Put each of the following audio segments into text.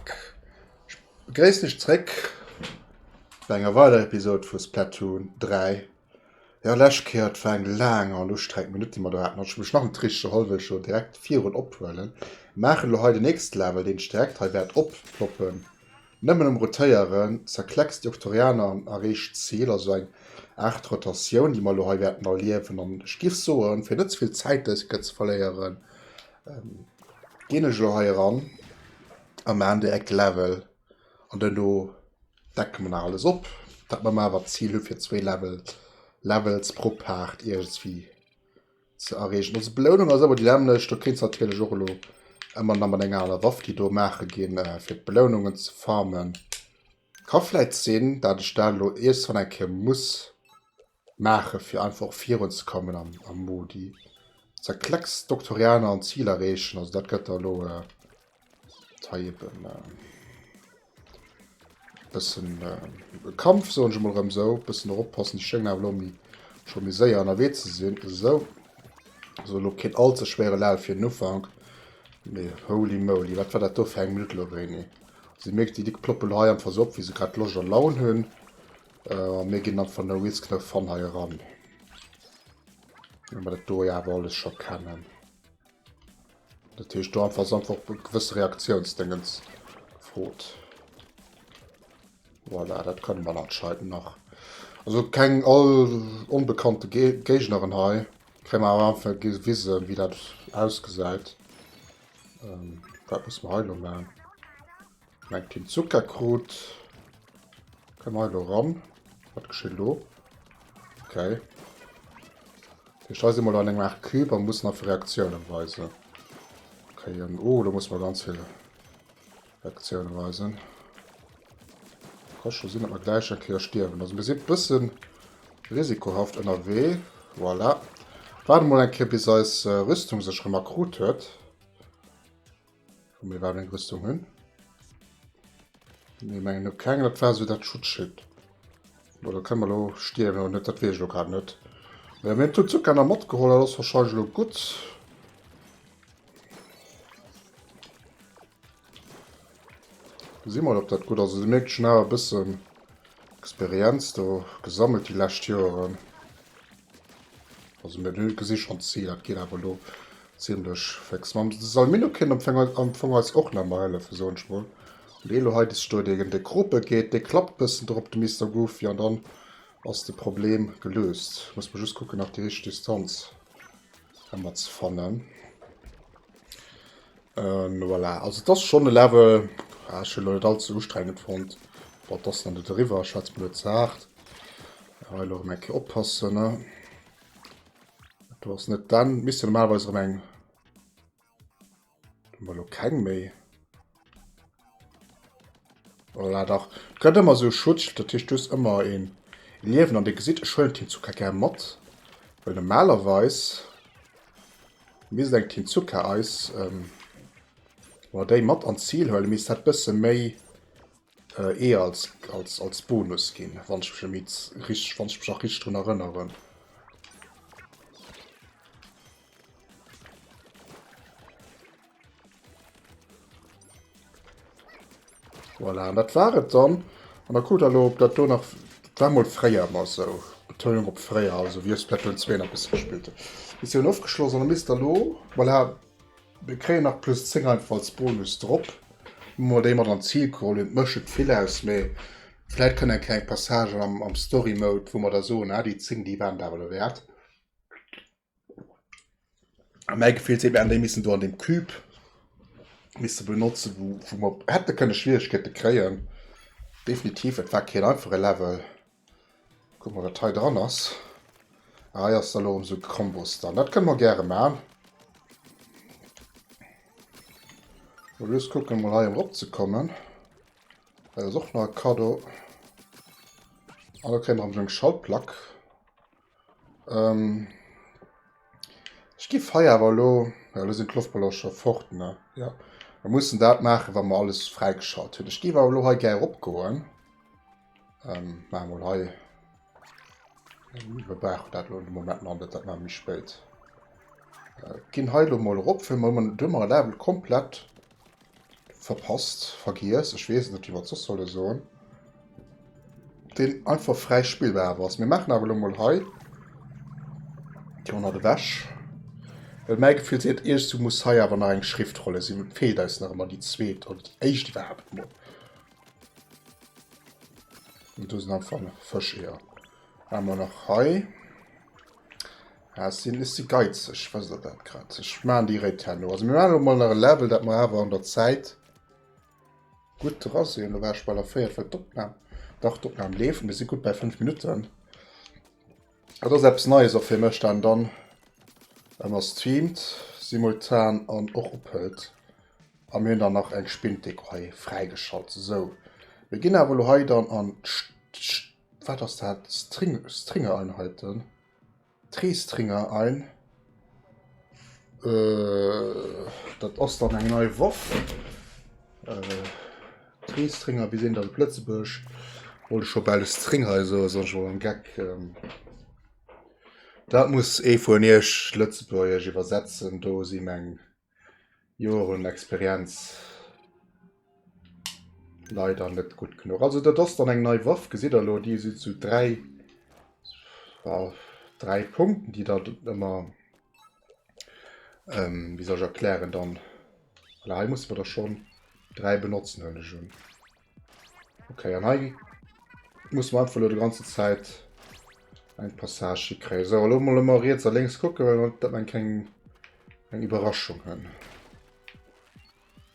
Ech begréissen iech zréck bei enger weiderer Episod vu Splatoon 3. Jo, lescht Kéier, et war eng laang an ustrengend Minutt, déi mer do haten, hat ech mech nach net richteg erholl, wëll ech elo direkt virun ophuelen. Maachen elo hei den nächste Level, deen ech direkt hei wäert opfloppen. Nëmmen um Rotéieren zerkleckst déi Octorianer an erreecht d'Zil, also eng Aart Rotatioun, déi mer elo hei wäerten erliewen. An ech giff soen, fir net ze vill Zäit dëse Kéier ze verléieren, ginn ech elo hei eran a maachen direkt de Level. An duerno decke mer nach alles op, dat mer awer d'Zil hu fir zwee Levels pro Paart iergendswéi ze erreechen. Ons Belounung ass ëmmer déi nämmlecht. Do kéints natierlech och elo ëmmer nach mat enger aner Waff, déi do maache ginn, fir d'Belounungen ze farmen. Ka vläit sinn, dat ech dat elo iergendswann eng Kéier muss. maache fir einfach och virun ze kommen am Modi se klecks Doktorianer an Ziel erreechen, also dat gëtt der lo äh, hei eben äh, bëssen äh, Kampf so schon mal rem so bëssen erop passen die Schengen lo mi schon mi séier an erwee ze sinn so so lo kind all ze schwere Level fir den Ufank nee holy moly wat war dat do fir eng Minute lo René sie merkt die dick ploppel hei am versopp wie se grad losch an laun hunn Äh, mir ginn dann von der Wizknëf von hei ran. Wenn wir dat do ja aber alles schon kennen. Dat heescht do einfach einfach gewisse Reaktionsdingens frot. Voilà, dat können wir anscheinend nach. Also keng all unbekannte Ge Gegnerin hei. Krämen wir am Anfang gewisen, wie dat ausgesäit. Ähm, wat muss man heilo machen? Mengt den Zuckerkrut. Komm hei lo ran. Wat geschieht lo? Okay. Ich da si mal an engem Art Cube an muss nach Reaktionen weisen. Okay, ähm, oh, da muss man ganz viele Reaktionen weisen. Kann schon sinn, dass wir gleich en Kéier stierwen. Also wir sind bëssen risikohaft ënnerwee. Voilà. Warte mal en Kéier, bis eis äh, Rüstung sech rem akkrut huet. Vu mir war eng Rüstung hunn. Nee, mengen no keng dat war sou dat Schutzschild. Bo da kënne mer lo stierwen oder net, dat wees ech lo grad net. Mä mir hunn d'Zuzuka nach matgeholl, dat ass wahrscheinlech lo gutt. Gesi mol ob dat gutt ass. Dir mierkt schon awer e bëssen Experienz do gesammelt déi lescht Joeren. Also mir gesi schonn d'Zil, dat geet awer lo Zimlech fix. Mam Salminokin am Fong am Fong eis och nach mei hëllefen soen ech mol. An dee elo hei dest stoe dee gen de Krope geet dee klappt bëssen der op de Mister Goofy an dann ass de Problem gelöst. Muss mer just kucken nach déi richteg Distanz emmer ze fannen. Ähm voilà also et ass schon e Level ah ech hunn elo net all ze ustrengend fonnt. Bon et ass nach net eriwwer ech hat et mol net ze haart. Hei elo erem eng Kéier oppassen ne. Du hast net dann miss normalweis an eng Molo keng méi. Voilà, dach gëtt ëmmer sou Schutzschild, dat hicht dus ëmmer een Liewen an de gesit schëllen Team Zucker gär mat. Well normalerweis misst eng Team Zucker eis ähm, oder déi mat an d'Zil huelen, misst dat bësse méi Ee als als als Bonus ginn wann ech mech e mids rich wann ech mech nach rich drun erënneren. Voilà, dat war et dann an der Kuder lo op dat do nach war mol fréier mar sou Betonung op fréier also wéi ech Splatoon 2 nach bis gespillt hunn. Missioun ofgeschloss an da misst der lo voilà. Mir kréien nach plus 10 einfach als Bonus drop. Hu mer déi mat an d'Zil geholl hunn. Mécht net vill aus, mee vläit kënnt eng kleng Passage am, am Story Mode, wou mer da soen, ah, déi 10, déi waren et awer derwäert. A mäi Gefill seet mir, hätten déi missen do an deem Cube misse benotzen, wou, wou mer hätte kënne Schwieregkeete kréien. Definitiv, et war keen einfache Level. Kuck mol wat hei dran ass. Ah hei ass da lo emsou Kombos dran. Dat kënne mer gäre maan. Mol just kucken mol hei erop ze kommen. Hei ass och nach e Kaddo. An da kréie mer emsou eng Schaltplack. Ähm, ech giff hei awer elo, ja elo sinn d'Loftballonen scho fort, ne, jo. Mer mussen dat maachen, wa mer alles fräigeschalt hunn. Ech géif awer elo hei gär eropgoen. Ähm, maache mol hei, mer brauchen dat elo de Moment nach net, dat maache mer méi spéit. Ginn hei elo mol erop, fir mer ëmmer, duerno mer e Level komplett. Verpasst, vergiess, ech weess net wéi mer et soss solle soen, deen einfach fräi spillbar awer ass. Mir maachen awer elo mol hei Déi 100 ewech. Well mäi Gefill seet, iergendwou muss hei awer nach eng Schriftrolle sinn. Et feelt eis nach ëmmer déi zweet oder déi éischt iwwerhaapt mol. Und do sinn einfach Fëscheeër. Hu mer nach hei. Ah, ech sinn, ech si geizeg, weess der dat grad? Ech maachen déi Réit herno. Also mir maachen elo mol nach e Level, dat mer awer an der Zäit gutt dra sinn. Elo war ech bal erféiert, well d'Opnam, dach d'Opnam leeft, mir si gutt bei 5 Minutten. Dat ass eppes Neies och fir mech, dat en dann ëmmer streamt simultan an och ophëlt. A mir hunn dann nach eng Spinndeko hei fräigeschalt. Sou, mir ginn awer elo hei dann an d'St, d'St, wat ass dat, String, Stringereinheiten. Treestringer ein. Äh, dat ass dann eng nei Waff. Äh, Treestringer, wie sinn dat op Lëtzebuerg? Wollte scho bal Stringer eso, ass ass scho en Geck. Ähm, dat muss ee vun iech Lëtzebuergesch iwwersetzen, do si meng Joer un Experienz leider net gutt genuch. Also dat ass dann eng nei Waff, gesitt der lo, déi si zu dräi dräi Punkten, déi dat ëmmer ähm, wie soll ich erklären dann. Voilà, hei muss man da schon dräi benotzen, hëlle schon. Okay, an hei muss man einfach nur die ganze Zeit ein Passage kriegen. So, hallo mal immer rechts und links gucken, weil man dann keine eine Überraschung haben.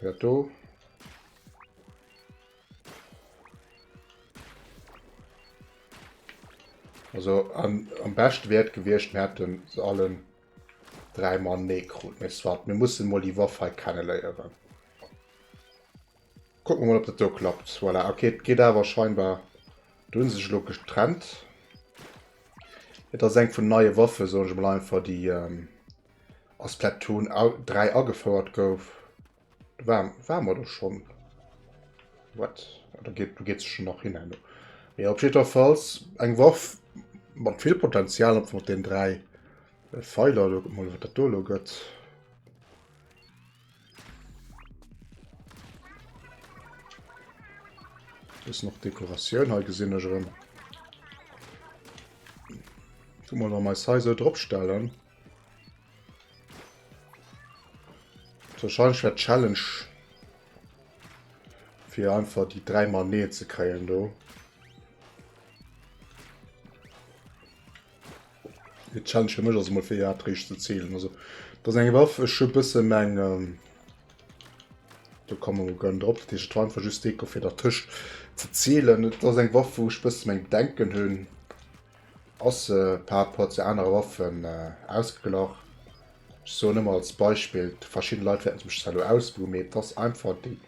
Wer da? Also an, am besten wäre gewesen, wir hätten sie alle dreimal Necro. Wir müssen mal die Waffe kennenlernen. Kucken mer mol op dat do klappt. Voilà ok et geet awer scheinbar. Do hunn se sech elo getrennt. Et ass eng vun neie Waffe soen ech mol einfach déi ähm, a Splatoon 3 agefouert gouf. Do war, war mer do schonn. What? Ah, do geet, do geet se schonn nach hin herno. Mee op jiddwerfalls eng Waff mat vill Potenzial einfach mat den dräi Pfeiler. Kucken mer mol wat dat do elo gëtt. Bis noch Dekoratioun hei gesinn ech erëm. Tu mal an mei Size dropstellen. Wahrscheinlich wärt Challenge fir einfach die drei mal nee ze kreien do. Ee Challenge fir mech ass emol fir iwwerhaapt réischt ze zielen. Also dat ass eng Waff, ech hu bësse meng ähm, do komme mer gönn drop, dat heescht et war einfach just Deko fir dertëscht ze zielen. Et ass eng Waff wou ech bësse meng Bedenken hunn, ass se par rapport zu anere Waffen äh, ausgeglach. Ech soen ëmmer als Beispill, verschidde Leit wäerten se mech zwar elo ausbuhen, mee et ass einfach déi,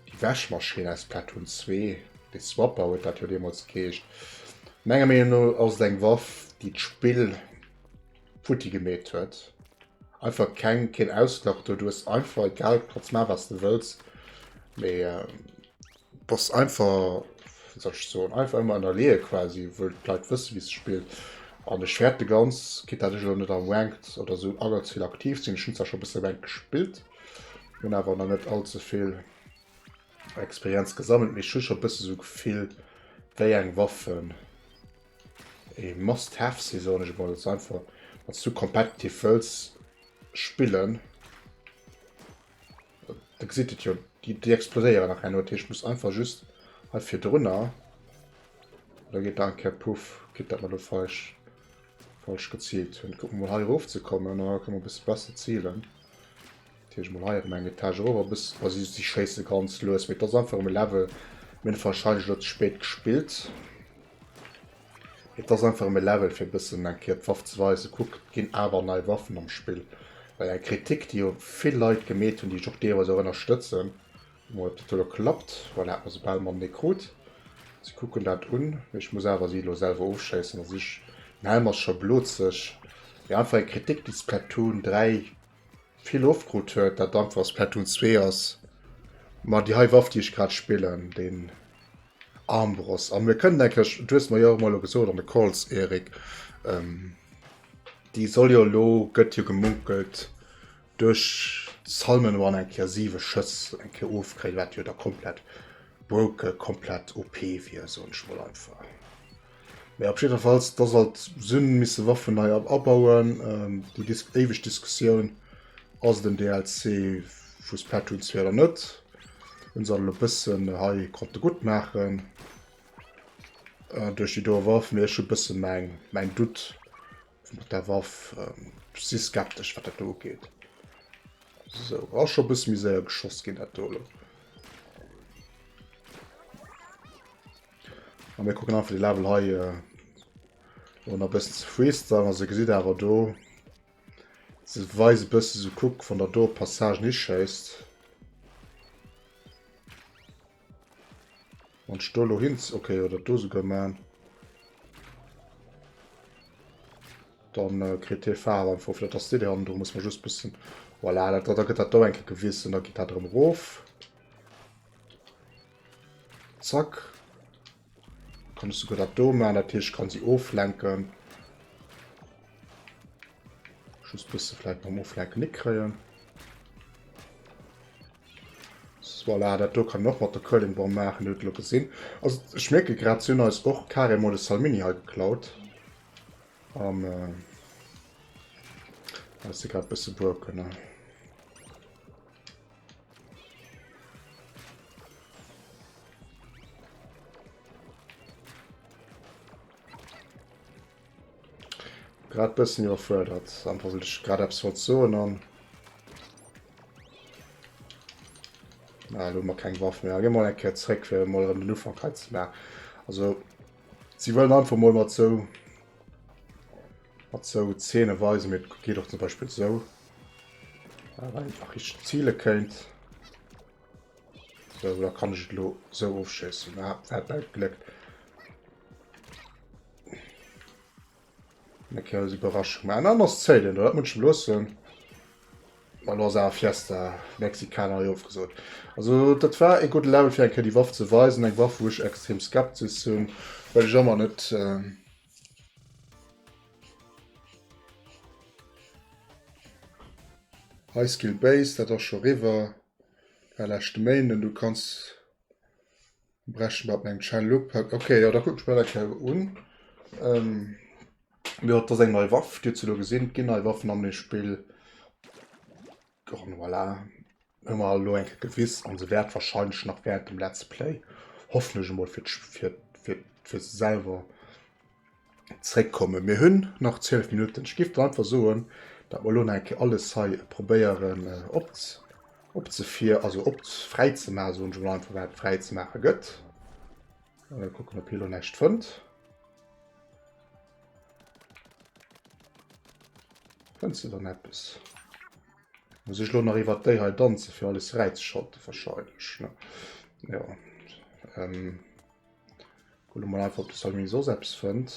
Déi Wäschmaschinn aus Platoon 2, de Swapper huet dat jo deemools geheescht, menger Meenung no ass et eng Waff, déi d'Spill futti gemeet huet. Einfach keng, keen Ausglach do, du hues einfach egal, du kanns maachen, wat s de wëlls, mee bass einfach, wéi soll ech soen, einfach ëmmer ënnerleeë quasi, wëll d'Leit wësse wéi s de spills. An ech fäerte ganz, quitte dat ech elo net am Ranked oder esou allezvill aktiv sinn, ech hunn zwar scho e bësse Ranked gespillt, Hun awer nach net all ze vill Experienz gesammelt, mee ech hu scho bësse sou d'Gefill wéi eng Waffen ee must have si soen ech emol. Einfach wanns du competitive wëlls spillen, da gesitt et jo, déi exploséieren nach herno, dat heescht muss einfach just hei virdrunner, da geet der eng Kéier puff, kritt dat mat ofweich. Falsch geziilt hunn. Kucken mol hei erof ze kommen. An da kënne mer e bësse besser ziilen. Dat heescht mol hei erëm eng Etage erof a bis. Wa si si schéisse ganz lues. Mee et ass einfach um Level. Mir hunn warscheinlech elo ze spéit gespillt. Et ass einfach um Level fir e bëssen eng Kéier d'Waff ze weisen. Kuck, et ginn awer nei Waffen am Spill. Well eng Kritik, déi jo vill Leit gemeet hunn, déi ech och deelweis och ënnerstëtzen, Bon, ob dat elo klappt, voilà, et ass egal, mam Necrot. Si kucken dat un, mee ech muss awer si elo selwer ofschéissen. A sech, den Helm ass scho blozeg. Jo, einfach eng Kritik, déi Splatoon 3 vill ofkrut huet, dat einfach Splatoon 2 ass. Ma déi hei Waff, déi ech grad spillen, den Armbrust. A mir kënnen enklech, du hues mer jo och emol elo gesot an de Calls, Erik, ähm, déi soll jo elo, gëtt jo gemunkelt, Duerch Salmon Run eng Kéier 7 Schëss eng Kéier ofkréien, wat jo da komplett broke, komplett OP wier, soen ech mol einfach. Mee op jiddefalls, da sollt Syn misse Waffen nei abauen, déi dis éiweg Diskussioun, ass et en DLC vu Splatoon 2 oder net? Hunn se elo e bëssen hei konnte gutt maachen duerch déi doe Waff, mee ech hu bësse mäin Doute. mat der Waff si skeptesch wat dat do ugeet. So ass scho bësse méi séier geschoss ginn dat do. A mir kucken einfach de Level hei äh, oder bëssen ze freestylen, also gesitt awer do se weise bësse so kuck wann der do Passage ni schéisst. Wann ech do elo hinz, ok, oder dat do souguer maachen, dann kritt hie Faarf einfach, fir dat ass déi déi hannendrun, muss mer just bëssen, voilà, dat, da gëtt dat do eng Kéier gewiss an da geet dat erëm erof. Zack. Kann ech sogar dat do man, dat Tierch kann se oflenken. Schuss bis ze fleit mam oflenken ni kreien. Voilà, dat do kann noch mat der Curlingbom machen huet lo gesinn. Also ich merke grad sinn als och Kare mod Salmini ha geklaut. Am äh, se grad bësse buer kënne. Grad bëssen iwwerfuerdert, einfach well ech grad eppes wollt soen an... Na, lo mer keng Waff méi. Gi mol eng Kéier zréck, fir mol erëm den Ufank hei ze maachen. Also, si wëllen einfach mol mat sou Mat sou Zeene weise mir, et geet och zum Beispill sou. Äh, wann een einfach richteg ziele kéint. Sou, da kann ech et lo sou ofschéissen. Ah, dat war Gléck. Eng kleines Überraschung. Mä en anescht zéilt een, dat muss ech loossen. Mal ass awer Fiesta Mexicana jo ofgesot. Also dat war e gudde Level fir eng Kéier déi Waff ze weisen, eng Waff wou ech extrem skeptisch sinn, well ech ëmmer net... High Skill Base, dat ass scho riwwer, war leschte Méinden. Du kanns brechen mat mengem Channel upacken. Okay, jo, da kucken ech mer dat gär un. Jo, dat ass eng nei Waff, dir hutt se elo gesinn. Et ginn nei Waffen an deem Spill. An voilà, hu mer elo eng Kéier gewist, an se wäert wahrscheinlech nach während dem Let's Play, hoffentlech emol fir fir fir fir se selwer zréckkommen. Mir hunn nach 12 Minutten. Ech giff dann einfach soen, dat mer elo nach eng Kéier alles hei probéieren op opzefir also op fräizemaachen, soen ech emol einfach, wat et fräizemaache gëtt. Kucken, ob hie elo näischt fënnt. Kënns de dann eppes? Muss ech lo nach iwwer déi hei danze fir alles fräizeschalten? Wahrscheinlech, ne? Jo. Ähm. Kucke mol einfach, ob de Salmi soss eppes fënnt.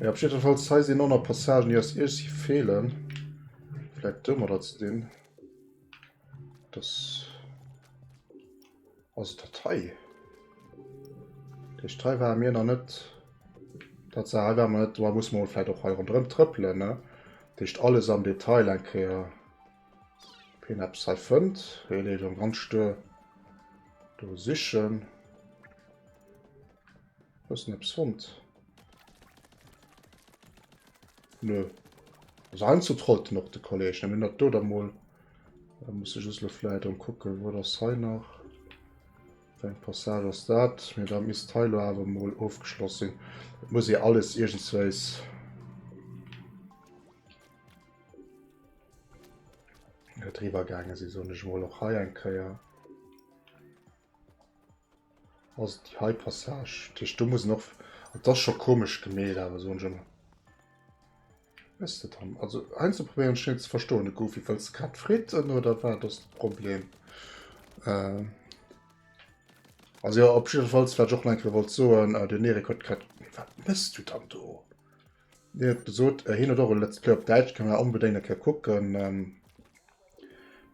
Ja, op jeden Fall sei sie noch Passagen, die aus Irsi fehlen. Vielleicht dümmer dazu den. Das. Also Datei. Der Datei war mir noch nicht. Das war wir nicht. Da muss man vielleicht auch hier drin tröppeln, ne? Das alles am Detail ein Kehr. Pin Apps hei fënnt. Hei leet am ganz Stör do sichen. Was net fond. Nö. Also ein zu trollt noch de Kolleg ne dat do der mol. Da muss ich lo vielleicht um gucken wo das he nach. Eng Passage ass dat mir da miss Teilo awer mol ofgeschloss sinn. muss e alles iergendsweis. Driwer gaange si soen ech mol och hei eng Kéier. Also die hei Passage. Tisch du muss noch. Das schon komisch gemäht, aber so schon. Weißt du dann? Also einzuprobieren schnell zu verstohlen Goofy falls grad fritten oder war das Problem. Äh, also ja, op falls wat och enke wollt soen, äh, den Erik huet grad wat misst du dann do? Dir huet gesot hien huet och e Let's Play op Däitsch, kann der onbedéngt eng Kéier kucken. Ähm,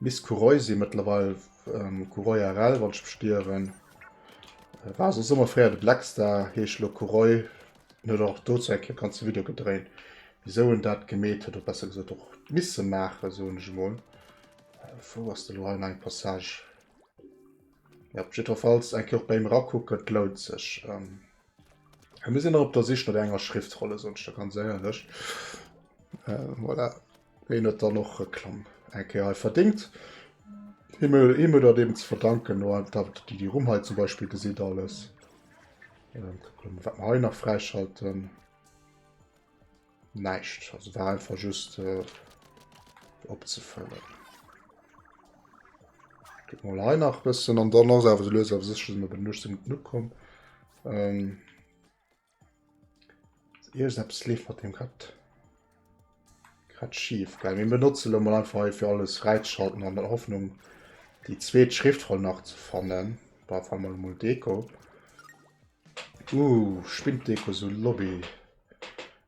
Miss Kuroisi mëttlerweil ähm, Kuroi RL wollt ech bestieren. Äh, war so sommer fréier de Blackstar, heesch lo Kuroi. Den huet och dozou eng Kéier ganze Video gedréint, wieso en dat gemeet huet, oder besser gesot och misse maachen, soen ech emol. Äh, wou ass de lo hei eng Passage? Ja, op jiddwerfalls eng Kéier och bei him erakucken, et lount sech. Ähm, Ech muss nach op der Sich no enger Schriftrolle sonst da ganz éierlech. Äh, voilà. Wéi net dann och Reklamm eng Kéier hei verdéngt. Himmel Himmel dat eben ze verdanken no dat Di Di Rumm hei zum Beispiel gesitt alles. Ähm, wat mer hei nach fräischalten. Näischt, also war einfach just äh, opzefëllen. Gëtt mal hei nach bëssen an dann ass awer lues awer sech op den Luchten genug kom. Ähm, Iers ab Sleef mat dem grad grad schief geil. Mir benotze lo mal einfach fir alles fräischalten an der Hoffnung die zweet Schriftroll nach ze fannen. War fall mal Deko. Uh, spinnt Deko so Lobby.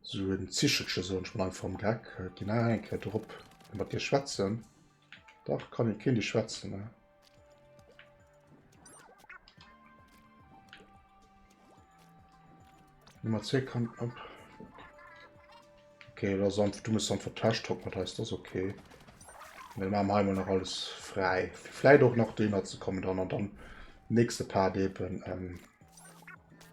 So en Zichelche soen ech mol einfach am Geck. Äh, ginn nach eng Kéier drop. Kann mat dir schwätzen? Dach, kann jo keen dir schwätzen, ne? Nummer 2 kann ab. Okay, lass einfach, du musst einfach Tash top mat heißt das okay. Wir machen einmal noch alles frei. Vielleicht auch noch den zu kommen dann und dann nächste Part eben ähm,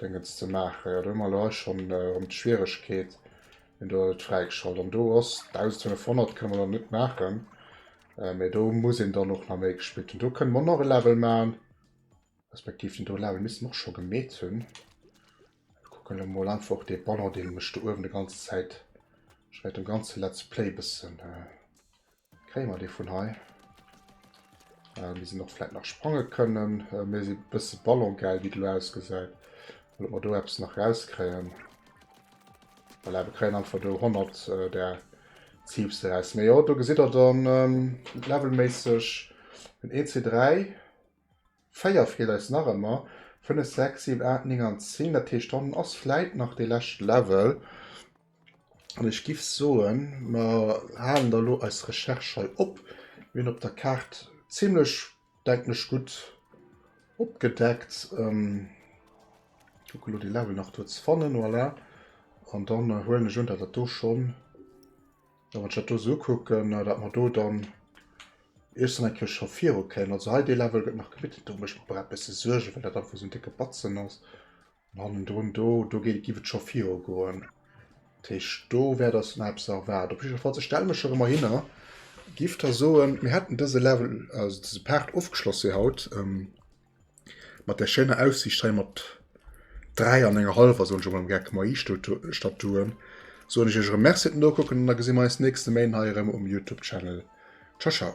Dengens ze maachen. Jo do hu mer elo hei schonn erëm d'Schwieregkeet, wien do et fräigeschalt an do ass. 1500 kënne mer dann net maachen, mee do muss een dann och nach méi gespillt hunn. Do kënne mer nach e Level maachen, respektiv den do Level misste mer och scho gemeet hunn. Ech kucken elo mol einfach och dee Banner, dee mech do uewen e ganze Zäit, wahrscheinlech dem ganze Let's Play, bëssen. Kréie mer dee vun hei? Äh, mir sinn och vläit nach sprange kënnen. Äh, mir si bësse ballongeil, wéi et elo ausgesäit. Well mer do eppes nach rauskréien. Voilà, wir kréien einfach do 100 äh, der Ziebste raus. Mee jo, do gesitt der dann ähm, levelméisseg den EC3. 4 feelt eis nach emmer. 5, 6, 7, 8, 9 an 10. Dat heescht, dann ass vläit nach dee leschte Level. An ech giff soen, mer halen da lo eis Recherche hei op. Mir hunn op der Kaart zimmlech, denken ech, gutt opgedeckt. Kucke lo dee Level nach do ze fannen. Voilà. An dann huelen ech un, dat dat do schonn. Wann ech dat do sou ukucken, dat mer do dann iergsten eng Kéier scho viru kéimen. Also hei dee Level gëtt nach gebidden. Do mécht mer e bësse Suergen, well dat einfach sou en décke Batzen ass. An hannendrun do, do géi, giff et scho viru goen. Dat heescht, do wäert eis nach eppes erwaarden. Op jiddwer Falls, ech stelle mech erëm erhinner. Giff da soen, mir hätten dëse Level, also dëse Part ofgeschloss fir haut. Mat der schéiner Aussiicht hei mat 3 an enger halwer soen ech emol am Geck moi Statuen, soen ech iech erëm Merci fir d'Nokucken an da gesi mer eis nächste Méint hei erëm um Youtube Channel. Ciao ciao.